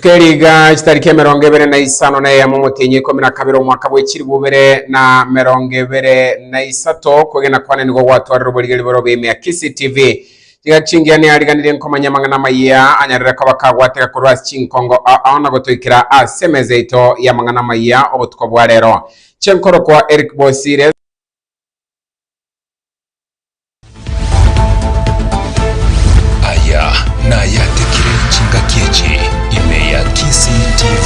Tukeriga chitariki emerongo ebere na isano na eyemo motienyi ikomi na kabere omwaka bwe chiribu bere na merongo ebere na isato kwegena kwane nigo gwatwarire oborigeri borobia ime ya Kisii TV Tiga chingiya neariganirie nkomanya amang'ana amayia anyarire koba kagwateka korwa ase chinkongo ao na gotoikera ase emeza yaito y'amang'ana amayia obotuko bwa rero. Chenkorokwa Eric Bosire. Aya nayatekire chingaki echi ime ya Kisii TV.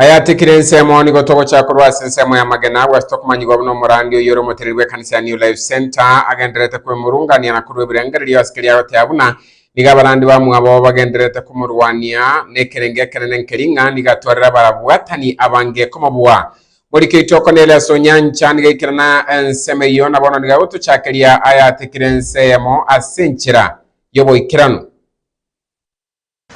Ayatikire ensemo nigo togochia korwa ase ensemo y'amagena agwo ase tokomanyigwa buna omorandi oyore omotereri bw'ekanisa ya New Life Centre agendererete kwemurungania na korwa ebirengererio ase keria agotea buna nigo abarandi bamwabo bagendererete komorwania nekerenge ekenene nkeria ng'a nigo atwarire abarabwatani abange komobua. Morike itoko nere ase onyancha, niga aikerana ensemo eyio, na bono niga gotochakeria ayatekire ense eyemo ase enchera y'oboikeranu.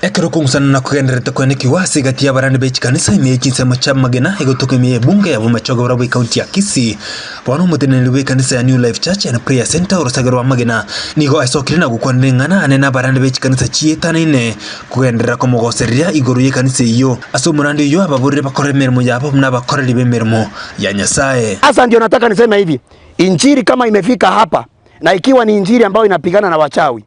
Ekero okong'usanana kogendererete koenekigwa ase egati y'abarani be chikanisa ime ye chinsemo chi'amagena, egotoka ime y'ebunge y'abamachoge barabwo y'ekaunti ya Kisii, Bono omoteneneri bw'ekanisa ya New Life Church and Prayer Centre orosage rwa Magena nigo asokire na gokwanera eng'ana ane n'abarande be chikanisa chietanaine kogenderera komogosereria igoro y'ekanisa eyio. Ase omorande oyio ababoreri bakore emeremo yabo buna abakoreri b'emeremo ya Nyasae. Sasa ndio nataka niseme hivi, injili kama imefika hapa na ikiwa ni injili ambayo inapigana na wachawi,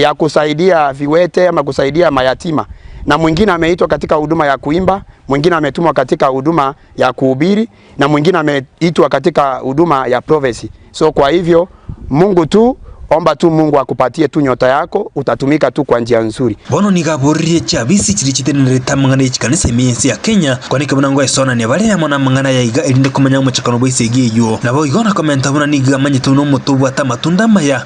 ya kusaidia viwete ama kusaidia mayatima, na mwingine ameitwa katika huduma ya kuimba, mwingine ametumwa katika huduma ya kuhubiri, na mwingine ameitwa katika huduma ya prophecy. So kwa hivyo Mungu tu, omba tu Mungu akupatie tu nyota yako, utatumika tu kwa njia nzuri. Bono nigo aboririe chiabisi chiria chitenenerete amang'ana ya chikanisa ime y'ense ya Kenya, kwaneke buna ngoesonania bare amo namang'ana aya iga erinde komanya omochakano bwa esegi eyio. Naboigo nakomenta buna nigo amanyete buna omote obwate amatunda amaya,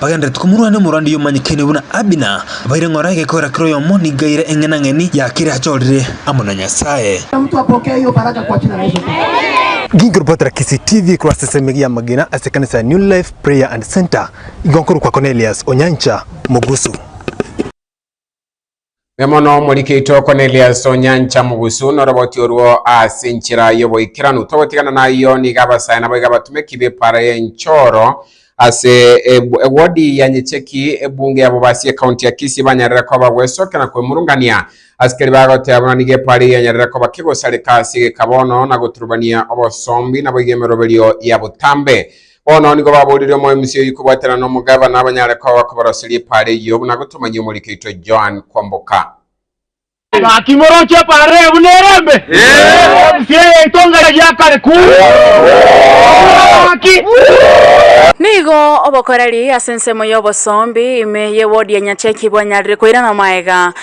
Bagenderete komorwania omorwandi oyomanyekene buna Abina, abaire ng'ora egekoera kera oyomo nigo aire eng'enang'eni ya keria achorire amo na Nyasae. Nkinki oripotera Kisii TV korwa ase esemigia y'amagena ase ekanisa ya New Life Prayer and Centre, igo nkorokwa Cornelius Onyancha Mogusu. Nemono omorike oito Konelias o nyancha mogusu noroboti orwo ase enchera y'oboikeranu. Togotigana nayio niga abasae naboiga abatumeki b'epara y'enchoro ase ewodi ya Nyecheki, ebunge ya Bobasi ekaunti ya Kisii banyarere koba gwesokia na kwemurungania. Asikeri bagoteba buna nigo epara eyio yanyarire koba kegosareka ase egeka bono na goturubania obosombi naboigo emeroberio ya botambe. Bono nigo baboorire omoemisi oyio kobwatana nomogabana abanyare koba koboroseria epaara eyio, buna gotomanyia omoriki oito Joan kwamboka. Gaki moroche epaara eye buna ere embe, oemisi eye yaitongana giakare ku gaki. Nigo obokoreri ase ensemo y'obosombi ime y'ewodi ya Nyacheki bwanyarire koirana maega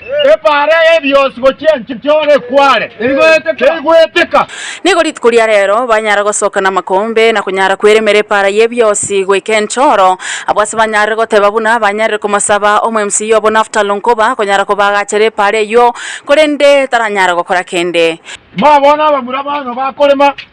Ebaara y'ebionsi gochia enchera y'ore ekware, teigweteka. Nigo rituko ria reero banyara gosoka namakombe, na konyara kweremera ebaara y'ebionsi goika enchoro. Abwo ase banyarire goteba buna banyarire komosaba omwemsiyi obo Naftali nkoba akonyara kobaagachera ebaara eyio, korende taranyara gokora kende. Timoa bono abamura baano bakorema.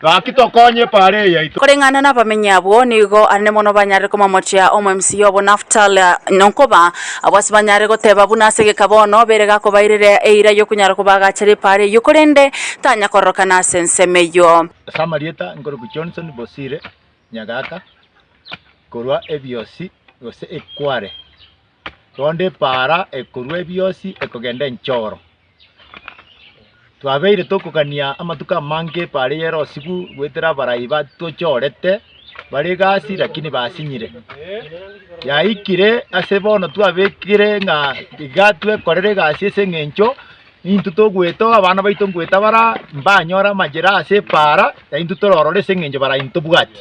Gaki tokonye epareei yaito. Koreng'ana nabamenyi abwo, nigo arende mono banyarire komomochia omwemsiya obo Naftali, nonkoba, Abwo ase banyare goteba buna ase egeka bono, bere gakobairera eira y'okonyara kobaagachera epaara eyio, korende tanya kororokana ase ensemo eyio. Ase amarieta nkorokwa Johnson Bosire Nyagaka korwa Ebiosi gose Ekware. Rwonde epaara ekorwa ebiosi ekogenda enchoro. Twabeire tokogania amatuko amange epaara eye ere osigu goetera abarai batochorete bare egasi lakini basinyire. Yaikire ase bono twabekire ng'a iga twekorere egasi ase eng'encho Nintwe togwetoga abana baito ngoeta bara mbanyore amachera ase epaara yaintwe tororore ase eng'encho bara intwe tobwati.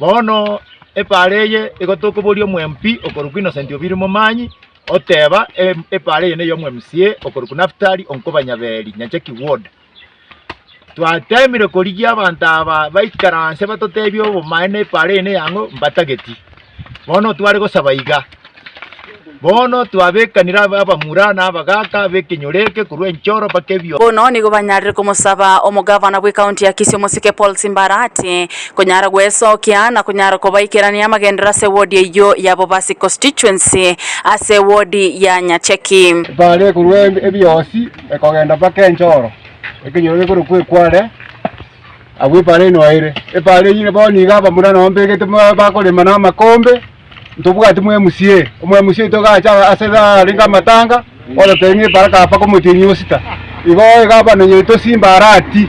Bono epaara eye igo tokoboria omwempi okorokwa Innocent Obiiri Momanyi oteba epaara eye ney'omwMCA okorokwa Naftali Onkuba Nyaberi, Nyachaki Ward. Twateemire korigia abanto aba baikaranse batoteebie obomaene epaara eye neyang'o mbatageti. Bono tware gosaba iga, bono twabeekanire abe abamura na abagaaka b'ekenyoro eke korwa enchoro mpaka ebio. Bono nigo banyarire komosaba omogavana bw'Ekaunti ya Kisii omosike Paul Simbarati konyara gwesokia na konyara kobaikerania amagenderero ase wodi eyio ya Bobasi Constituency ase wodi ya Nyacheki. Epaara ekorwa ebiosi. Ekogenda mpaka enchoro, ekenyoro gekorokwa Ekware, agwo epaara eye noeire. Epaara eyio bono nigo abamura nao mbegete ba- bakorema na amakombe, ntobwati mwemusi eye. Omwemusi oito iga acha ase arenge amatanga, orotebe ng'a epaara kaba mpaka omotienyi osita. Igo iga abanonye tosimba arati,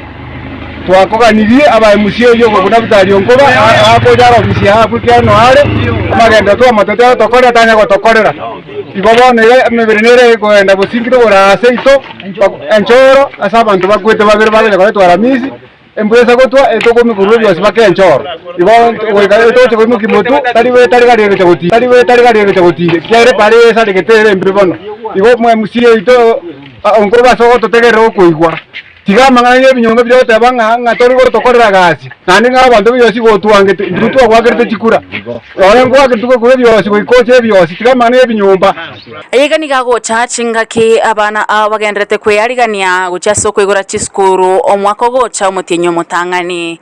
twakoganirie abaemusi erio obo buna Vitali onkoba a- akoja aro omosie agwo ekiagera noare, amagenderero twamate totokorera tanyare gotokorera. Igo bono ere emebere nere egoenda bosingire oboraa aase ito, enchoro ase abanto bakwete babere bagocha koretwa Aramisi, embwesa gotwa etokoimokia oborwaire bwonsi bake enchoro. Igo goika etogocha koimokia motu, tari be tari gari egocha gotiga, tari be tari gari egocha gotiga, ekiagera ere paara eyesaregete ere embe bono. Igo omwe musie oito, onkoroba ase ogototegerera okoigwa. Tiga amang'ana y'ebinyongo biria ogoteba ng'a ng'a tori gotokorera gasi, naende ng'a abanto b'ebiosi gotwangete, intwe twagwakerete chikura. Rora ngwakerete ogokura ebiosi goika oche ebiosi, tiga amang'ana y'ebinyomba. Aya iga nigo agocha chingaki abana ao bagendererete kwearigania gochia ase okoigora chisukuru omwaka ogocha omotienyi omotang'ani.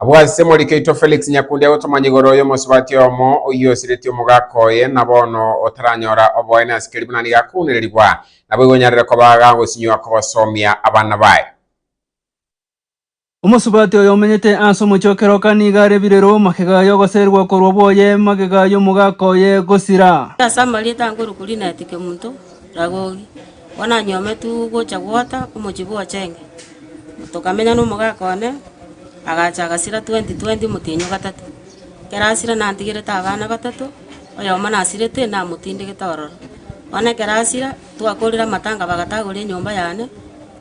Abwo ase Morikaitwa Felix Nyakundi agotoma nyigoro y'omosubati oyomo oyio osiretie omogaka oye, na bono otaranyora oboene ase keri buna nigo akounererigwa, naboigo onyarere koba gagosinywa kogosomia abana baye. Omosubati oyo omenyete ase omochie o Keroka nigo arebire rwo magega y'ogoserigwa korwa bwoye magega y'omogaka oye gosira. Ase amarieta ankorokuri naeteke omonto, Ragogi. Bwananyometwe gocha gwota omochie bw'Ochenge, tokamenya nomogaka one, agacha agasira 2020 omotienyi o gatato. Ekero asira nantigerete abana batato, oyomo nasirete namotindegete ororo. Bono ekero asira, twakorire amatanga bagatagora enyomba yane,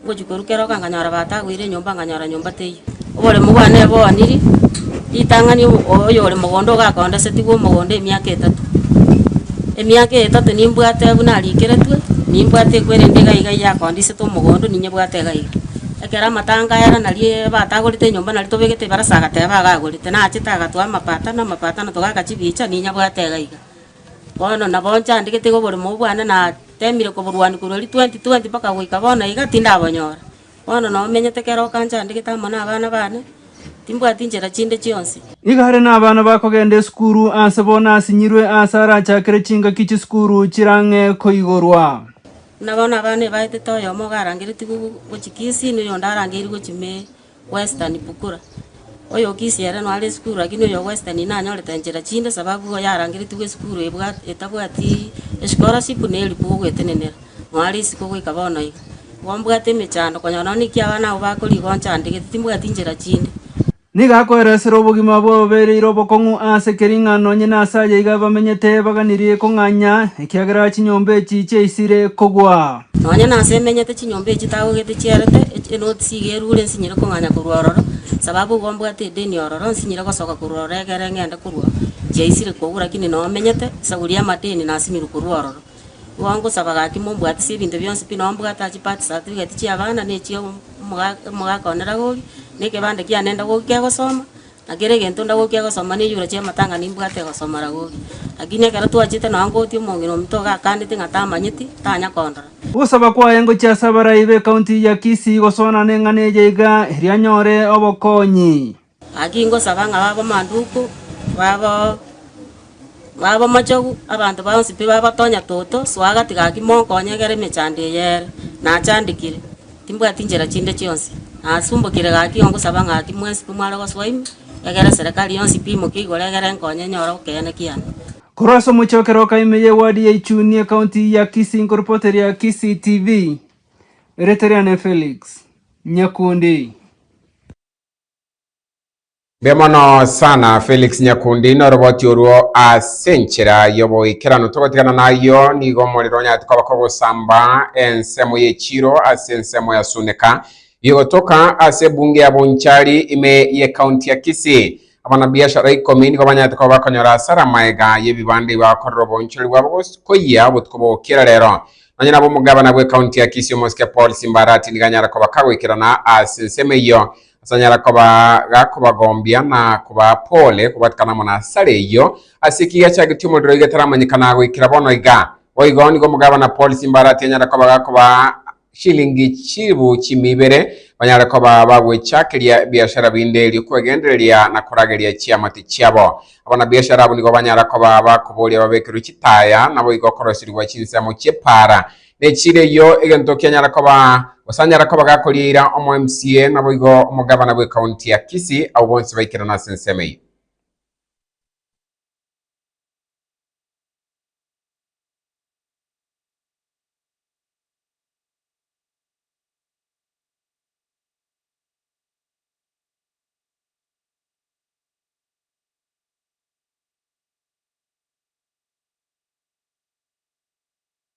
ngochia korwa keroka nkanyora batagoire enyomba nkanyora nyomba teiyo. Oboremu bwane boaniri ritang'ani obo- oyore mogondo ogakondesetigwe omogondo emiaka etato. Emiaka eye etato nimbwate buna arikeretwe, nimbwate ekwerende iga iga eyakondisete omogondo ninyebwate iga iga. Ekero amatanga aya rana rie batagorete enyomba nari tobegete ebarasa agateba iga agorete, nachete agatwa amapata na amapata na togaka chibicha ninyebwate iga iga. Bono nabo nchandegete iga oboremu obwo bwane natemire koborwania korwa eria twenty twenty mpaka goika bono iga tindabonyora. Bono nao menyete kera okancha andegete amo nabana bane, timbwati nchera chinde chionsi. Nigo are nabana bakogenda esukuru aase bono asinyirwe aase arachakere chingaki chisukuru chirang'e koigorwa. Buna bono abana ebaetete oyomo iga arangeretigwe gochia Kisii na oyonde arangeirwe gochia Mee, Western, Bukura. Oy'okisia ere noare esukuru, lakini oyo ogwesita nigo nanyorete nchera chinde, sababu igo yarangeretigwe esukuru ebwa- etabwati escholarship na eribuku y'ogwetenenera, noare isiko goika bono iga. Igo mbwate emechando, konya nonya naki abana abwo bakorigia onchande, gete timbwati nchera chinde. Nigo akoeresera obogima abwo abobereire obokong'u aase kering'ana onye naase ayeiga bamenyete baganirie kong'anya, ekiagera chinyomba echi chiaisire kogwa. Nonya nase emenyete chinyomba echi tagogete chiarete, echi enoti siga erure nsinyire kong'anya korwa ororo, sababu igo mbwate edeni ororo, nsinyire gosoka korwa ororo egere ng'ende korwa oo chiaisire kogura, lakini noo omenyete esaguri y'amadeni nasinyirwe korwa ororo. Igo ngosaba gaki mombwatisie ebinto bionsi pi noo mbwate ase chibirth certificate chi'abana, ne echio omo- omogaka one ragoria, ne ekebande kiane ndagori kegosoma. Na kera egento ndagokia gosoma nechura chi'amatanga nimbwate gosomora goria. Lakini ekero twachete nonya ngogotia omong'ina ominto iga akandeti ng'a tamanyeti, tanya kondora. Ogosaba kwaye ngochie ase abarai b'ekaunti ya Kisii gosoana neng'ana eye iga erio anyore obokonyi. Gaki ngosaba ng'a babe amanduku, babe. Babamochogu, abanto bonsi pi bagotonya toto, soa gati gaki monkonye egere emechando eye ere, nachandekire. Timbwati nchera chinde chionsi. Nasumbokire gaki ongosaba ng'aki mwensi pi mware gosoa ime, egere eserekari yonsi pi imoke igoro egere enkonye nyore okeene kiane. Korwa ase omochie o Keroka ime ye Wadi ya Ichuni Ekaunti ya Kisii Nkoripooteria Kisii TV Erioto riane Felix Nyakundi. Mbuya mono sana Felix Nyakundi noroboti orwo ase enchera yoboikeranu togotigana nayio nigo omorero onyarete koba kogosamba ensemo yechiiro ase ensemo ya Suneka bigotoka ase ebunge ya Bonchari ime ye county ya Kisii. Abana biashara ikomi nigo banyarete koba bakonyora asara amaega yebibanda igo akorera obonchori bwabo koyia obotuko bogokira rero. Nonye nabo omogabana bwe county ya Kisii omosike Paul Simbarati nigo anyara koba kagoikerana ase ensemo eyio Asanyare koba gakobagombia na kobaa pole kobwatikana amo nasare eyio. Ase ki giachagetio omorero igetaramanyekana goikera bono iga? Boigo nigo omogabana Paul Simbarati anyare koba gakobaa shilingi chilifu chimi ibere, banyare koba bagwechakeria ebiashara binde erio kwegendereria na korageria chiamate chiabo. Abanabiashara abwo nigo banyare koba bakoboria babekerwe chitaya, naboigo koroserigwa chinsemo chiepaara Ne chire eyio egento kianyara koba, gose anyara koba gakoriira omo MCA naboigo omogavana bwe county ya Kisii abwo bonsi baikerana ase ensemo eyio.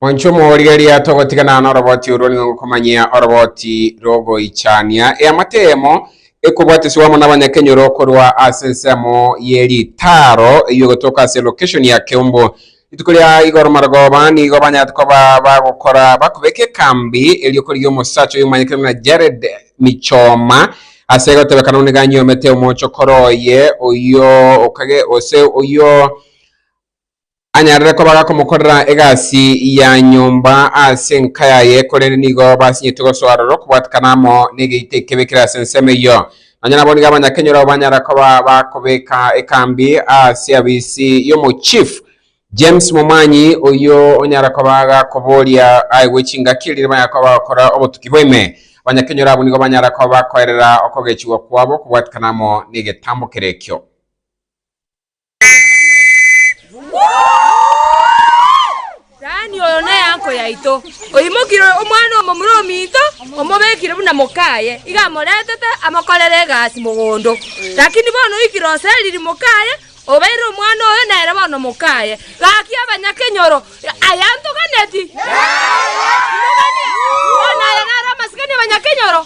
Monche omorigereria togotiganana noroboti orwo nigo ngokomanyia oroboti rogoichania eamate eyemo ekobwatesigwa amo nabanyakenyoro korwa ase ensemo ye ritaaro eyio gotoka ase location ya Keumbu. Rituko ria igoro marogoba nigo banyarete koba bagokora bakobeka ekambi erio korigia omosacha oyio omanyekane buna Jared Michoma ase egotebekana nigo anyuomete omochokoro oye oyio okage ose oyio anyarire koba gakomokorera egasi ya nyomba ase enka yaye, korende nigo basinyetwe gosoa aroro okobwatekana amo negeita ekebe kere ase ensemo eyio. Nonya nabo nigo Abanyakenya ororo banyara koba bakobeka ekambi ase abisi y'Omochief James Momanyi oyio onyara koba gakoboria aye gwe chingaki riria banyara koba bagokora obotuki bw'ime. Abanyakenya ororo abwo nigo banyara koba bakoerera okogechigwa kwabo okobwatekana amo negetambo kere ekio. Dani oyo nenyanko yaito, oimokire omwana omomura ominto, omobekire buna mokaye, iga amoretete amokorere egasi mogondo. Lakini bono oikire oseriri mokaye, obeire omwana oyo nere bono mokaye. Gaki abanyakenyoro, aye antoganeti? Imoganio! Bono aya naro amasikani abanyakenyoro?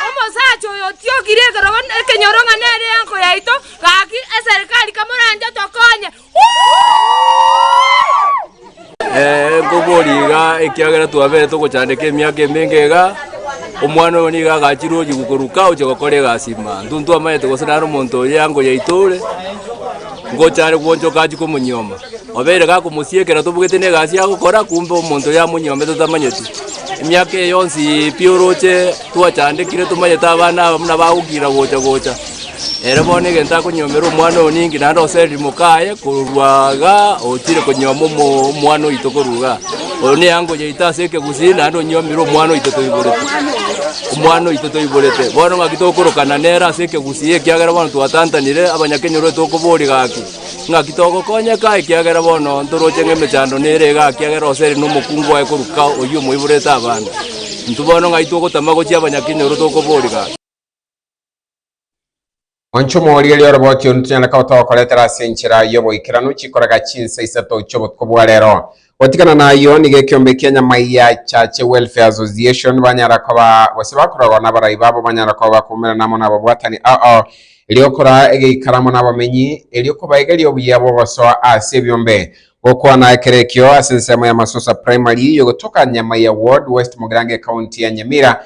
Omosacha oyo otiokire ekerogo ekenyoro ng'a nere enyanko yaito, Gaki eserikari kamoranche tokonye. Ee, nkoboria iga ekiagera twabere togochandeka emiaka emenge iga, omwana oyo nigo agachire ochi gokoruka oche gokora egasi ime. Intwe ntwamanyete gose naro omonto oyo eango yaito ore, ngocha are gwochoka achie komonyioma. Obeire gakomosiekera tobugete na egasi agokora, kumbe omonto oyo amonyiomete totamanyeti. Emiaka eye yonsi pi oroche twachandekire tomanyete abana aba buna bagokira gocha gocha. Ere bono egento akonyiomera omwana oyo ninki, naende osereri moka aye korwa iga otire konyioma omo- omwana oito korwa iga. Oyo neango yaito ase ekegusii, naende onyiomire omwana oito toiborete, omwana oito toiborete. Bono ng'aki tokorokana nere ase ekegusii, ekiagera bono twatantanire, abanyakenyoro tokoboria gaki, ng'aki togokonyeka ekiagera bono ntoroche ng'a emechando nere igaa ekiagera osereri na omokungu oye korwa ka oyio omoiborete abande. Intwe bono ng'ai togotama gochia abanyakenyoro tokoboria gaki. Onchomwa oria ere oroboche onde tonyare koba twagokoretera ase enchera y'oboikeranu chikorega chinsa isato chi'obotuko bwa rero. Gotigana nayio, nigo ekeombe kia Nyamaiya Church Welfare Association banyara koba gose bakorogwa n'abarai babo banyara koba bakomoirana amo n'ababwatani ao, erio okoraa egeikaro amo n'abamenyi, erio kobaigeria obuya bw'ogosoa ase ebiombe. Gokwana ekero ekio, ase ensemo ya Masusa Primary, yogotoka Nyamaiya Ward, West Mogirango Ecounty ya Nyamira,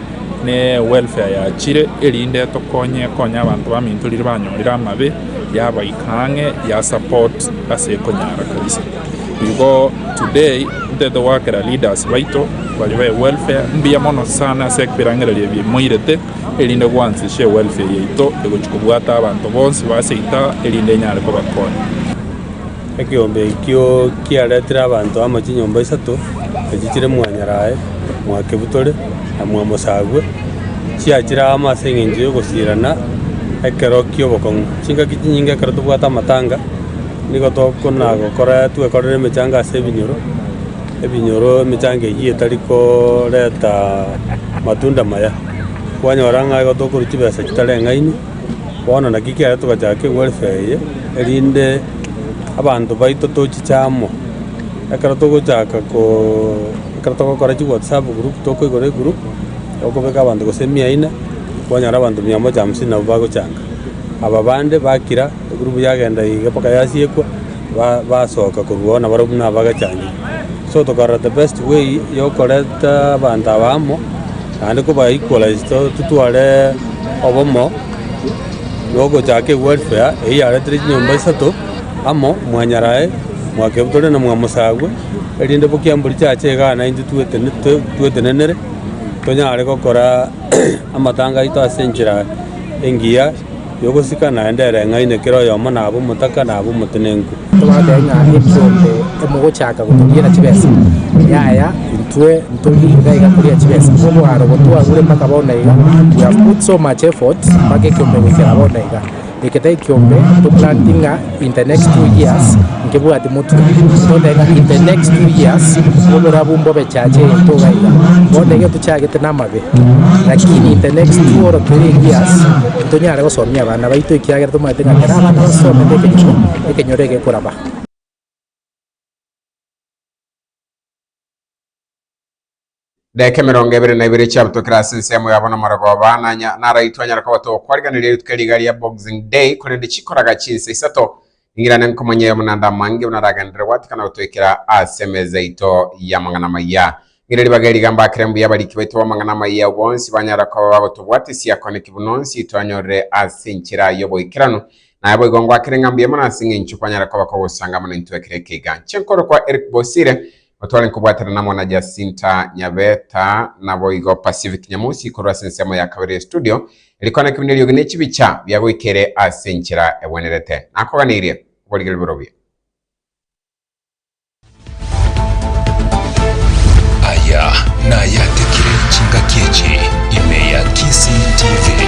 ne welfare yachire erinde tokonye konye abanto bamintorire banyorire amabe yabaika ang'e ya support ase ekonyara kabisa. Igo today ntete goakera leaders baito baria be welfare mbuya mono sana ase ebirengererio ebio moirete erinde gwansisie welfare yaito egochi kobwata abanto bonsi baseita erinde enyare kobakonya. Ekeombe ekio kiaretire abanto amo chinyomba isato, echi chire mwanyarae, mwakebutore, na mwamosabwe, chiachire amo ase engencho y'ogosiirana ekero ki'obokong'u. Chingaki chinyinge ekero tobwate amatanga, nigo tokonagokora twekorere emechanga ase ebinyoro, ebinyoro emechanga eyio etari koreta matunda maya. Kwanyora ng'a igo tokorochia chibesa chitareng'aini. Bono naki kiaye togachaka ewerfe eye, erinde abanto baito tochiche amo. Ekero togochaka koooo ekero togokora chiwatsapp group tokoigora egroup, tokobeka abanto gose mia ine, kwanyora abanto mia moja hamsini nabwo bagochanga. Aba bande bakira, egroup yagenda iga mpaka yasiekwa. ba- basoka koruao nabarabwo buna abagechangire. So tokarora the best way yokoreta abanto aba amo, naende koba equalize to- totware obomo, nogochaka ewelfare eyio yaretire chinyomba isato amo, mwanyarae, mwakebutore na mwamosabwe, erinde bokia mbori chiacha iga iga naintwe twetene to- twetenenere, tonyare gokora amatanga aito as'enchera engiya. y'ogosika naende ereng'aine kera oyomo nabe omotaka nabe omotenenku. Tobatebia ng'a ebisa onde emogochaka goturiera chibesa, yaya, intwe ntori iga iga koria chibesa, obwaro obo twagure mpaka bono iga, we have put so much effort mpaka ekiombe goikera bono iga. Eke tari ekiombe toplanting'a. In the next two years nkebwati motwe totebe in the next two years oborabu mbobe chache egento iga iga bono iga tochagete namabe lakini in the next two or three years ntonyare gosomia abana baito ekiagera tomanyete ng'a kera abana basomete ekenyoro ekenyoro egekoraba. Edaika emerongo ebere na ibere chiabutokire ase ensemo yabo n'amarogooba, nanya naraitwe anyare kobatoka kwarigereria rituko riga ria Boxing Day, korende chikoraga chinsa isato, ningirane nkomonye oyomo naende amange buna aragenderere gwatikana gotoikera ase emeza yaito y'amang'ana amaya. Ng'ire ribaga eriga mbakere mbuya abariki baito b'amang'ana amaya abo bonsi banyare koba bagotobwatisia kone ki buna onsi twanyorire ase enchera y'oboikeranu. Naye boigo ngwakere ng'a mbuya mono ase engencho kwanyare koba kogosanga mono intwe ekero ekeiga. Inche nkorokwa Eric Bosire, Otware nkobwatana namo na Jacinta Nyabeta naboigo Pacific Nyamosi korwa ase ensemo ya kabere ye studio eri kwana kebina eriogi ne chibicha biagoikere ase enchera egwenerete. Nakoganeirie, oborigereri bore obuya. Aya nayatekire chingaki echi ime ya Kisii TV.